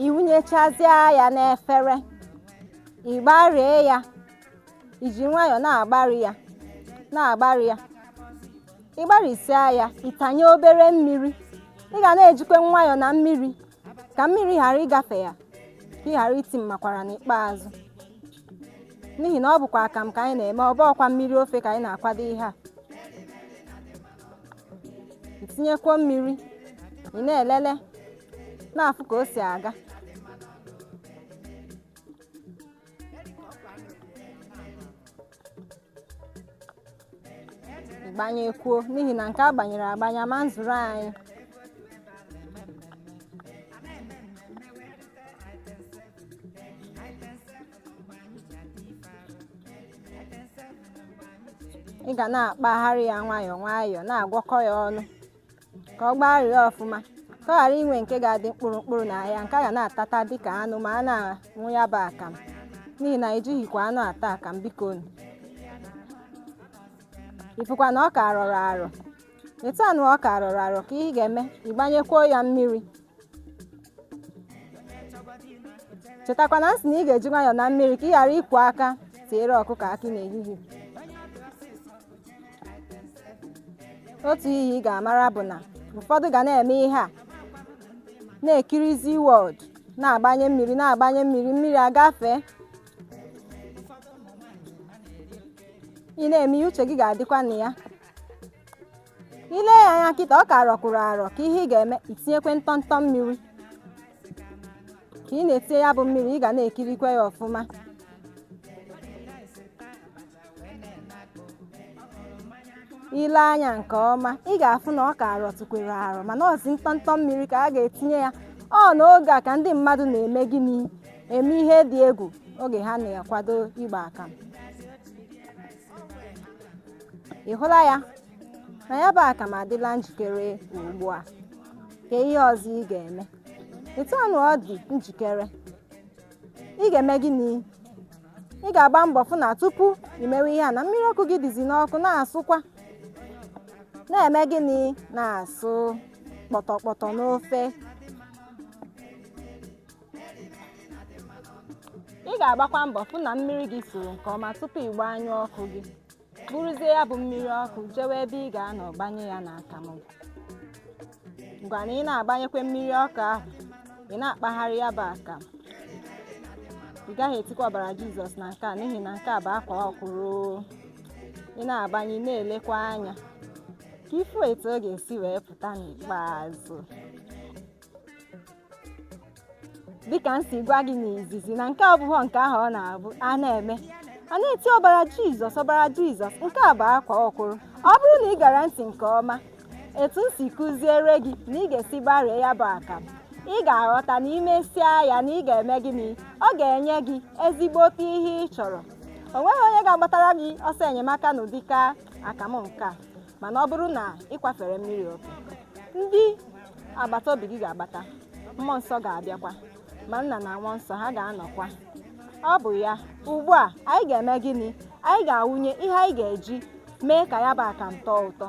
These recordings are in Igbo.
iwunyechazịa ya n'efere ịgbarie ya iji nwayọọ na-agbari ya na-agbari ya ịgbarịsịa ya ịtanye obere mmiri ị ga na-ejikwe nwayọọ na mmiri ka mmiri ghara ịgafe ya ka ị ghara iti mmakwara n'ikpeazụ n'ihi na ọ bụkwa akamụ ka anyị na-eme ọ bụọkwa mmiri ofe ka anyị na-akwado ihe a itinyekwuo mmiri ị na-elele na-afụ ka o si aga ịgbanyekwuo n'ihi na nke a gbanyere agbanye ma nzuru anyị ị ga na-akpagharị ya nwayọọ nwayọọ na-agwọkọ ya ọnụ ka ọ gbagharịa ọfụma ka ọ ghara inwe nke ga-adị mkpụrụ mkpụrụ na ya nke a ga na-atata dịka anụ ma a na-aṅụ ya bụ akam n'ihi na ejighịkwa anụ ata akam bikonu ị fụkwa na ọ ka rọrọ arọ Etu anụ ọ ka rọrọ arọ ka ị ga-eme ịgbanyekwuo ya mmiri chetakwa na m sị na ị ga-eji nwayọọ na mmiri ka ị ghara ịkwọ aka tiere ọkụkọ akị n'ehihie otu ihe ị ga-amara bụ na ụfọdụ ga na-eme ihe a na-ekirizi world na-agbanye mmiri na-agbanye mmiri mmiri agafee ị na-eme ihe uche gị ga-adịkwa na ya ile ya anya kịta ọ ka rọkwụrụ arọ ka ihe ị ga-eme itinyekwe ntọntọ mmiri ka ị na-etinye ya bụ mmiri ị ga na-ekirikwa ya ọfụma ile anya nke ọma ị ga-afụ na ọ ka rọtụkwere arọ mana ọzi ntọntọ mmiri ka a ga-etinye ya ọ n'oge a ka ndị mmadụ na-eme gịnị eme ihe dị egwu oge ha na-akwado igba akamụ ị hụla ya na ya bụ akam adịla njikere ugbu a ke ihe ọzọ ị ga-eme etu anụ ọ dị njikere ị ga-eme gịnị ị ga-agba mbọ fụ na tupu ị mewe ihe a na mmiri ọkụ gị dịzi n'ọkụ na-asụkwa na-eme gịnị na-asụ kpọtọkpọtọ n'ofe ị ga-agbakwa mbọ fụ na mmiri gị suru nke ọma tupu ị gbanyụọ ọkụ gị buruzie ya bụ mmiri ọkụ jewe ebe ị ga-anọ gbanye ya na akamụ gị ngwa na ị na-agbanyekwe mmiri ọkụ ahụ ị na-akpagharị ya bụ akamụ ị gaghị etikwa ọbara jizọs na nke a n'ihi na nke a bụ akwaa ọkwụrụ ị na-agbanye na-elekwa anya ka ị fụ etu ọ ga-esi wee pụta n'ikpeazụ dịka m si gwa gị n'izizi na nke a abụghọ nke ahụ ọ na-abụ a na-eme a na-eti ọbara jizọs ọbara jizọs nke a bụ akwaa ọkwụrụ ọ bụrụ na ị gere ntị nke ọma etu m si kụziere gị na ị ga-esi gbarie ya bụ akamụ ị ga-aghọta na i mesịa ya na ị ga-eme gịnị ọ ga-enye gị ezigbote ihe ị chọrọ o nweghị onye ga-agbatara gị ọsọ enyemaka n'ụdịka akamụ nke a mana ọ bụrụ na ị kwafere mmiri oke ndị agbata obi gị ga-agbata mmụọ nsọ ga-abịakwa ma nna na nwa nsọ ha ga-anọkwa ọ bụ ya ugbu a anyị ga-eme gịnị anyị ga-awụnye ihe anyị ga-eji mee ka ya bụ akamụ tọọ ụtọ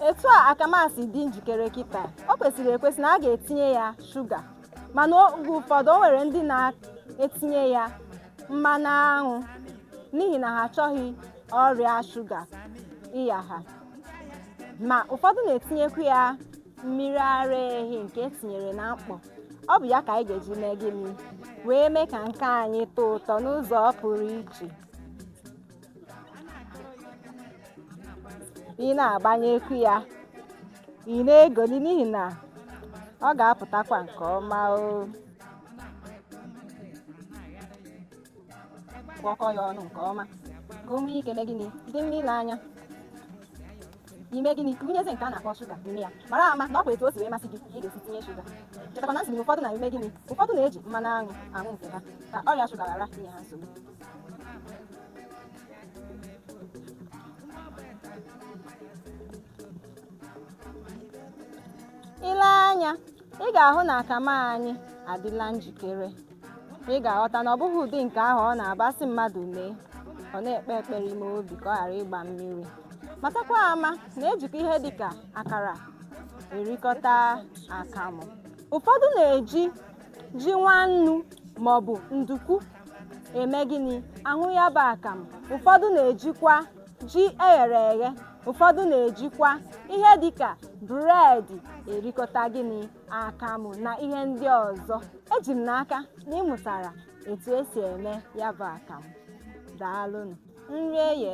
etu a akamụ a si dị njikere kịta o kwesịrị ekwesị na a ga-etinye ya shuga mana oge ụfọdụ o nwere ndị na-etinye ya mmanụ aṅụ n'ihi na ha achọghị ọrịa shuga ịya ha ma ụfọdụ na-etinyekwu ya mmiri ara ehi nke e tinyere na mkpọ ọ bụ ya ka anyị ga-eji mee gịnị wee mee ka nke anyị tọọ ụtọ n'ụzọ pụrụ iche ị na-agbanyekwu ya ị na-egoli n'ihi na ọ ga-apụtakwa nke ọma o gwọkọ ya ọnụ nke ọma ka o nwee ike mee gịnị dị mma ile anya i mee gịnị gụnyezi nke a na-akpọ shuga n'ime ya mara ama na ọ bụ etu o si wee masị gị ka ị ga-esi tinye shuga chetakwa na m sị na ụfọdụ na-eme gịnị ụfọdụ na-eji mmanụ aṅụ aṅụ nke ha ka ọrịa shuga ghara inye ha nsogbu i lee anya ị ga-ahụ na akamụ anyị adịla njikere ị ga-aghọta na ọ bụghị ụdị nke ahụ ọ na-abụ a sị mmadụ mee ọ na-ekpe ekpere ime obi ka ọ ghara ịgba mmiri matakwa ama na ejikwa ihe dị ka akara erikọta akamụ ụfọdụ na-eji ji nwannu maọbụ nduku eme gịnị aṅụ ya bụ akamụ ụfọdụ na-ejikwa ji eghere eghe ụfọdụ na-ejikwa ihe dịka bụredi erikọta gịnị akamụ na ihe ndị ọzọ eji m n'aka na ị mụtara etu e si eme ya bụ akamụ daalụnụ nri eye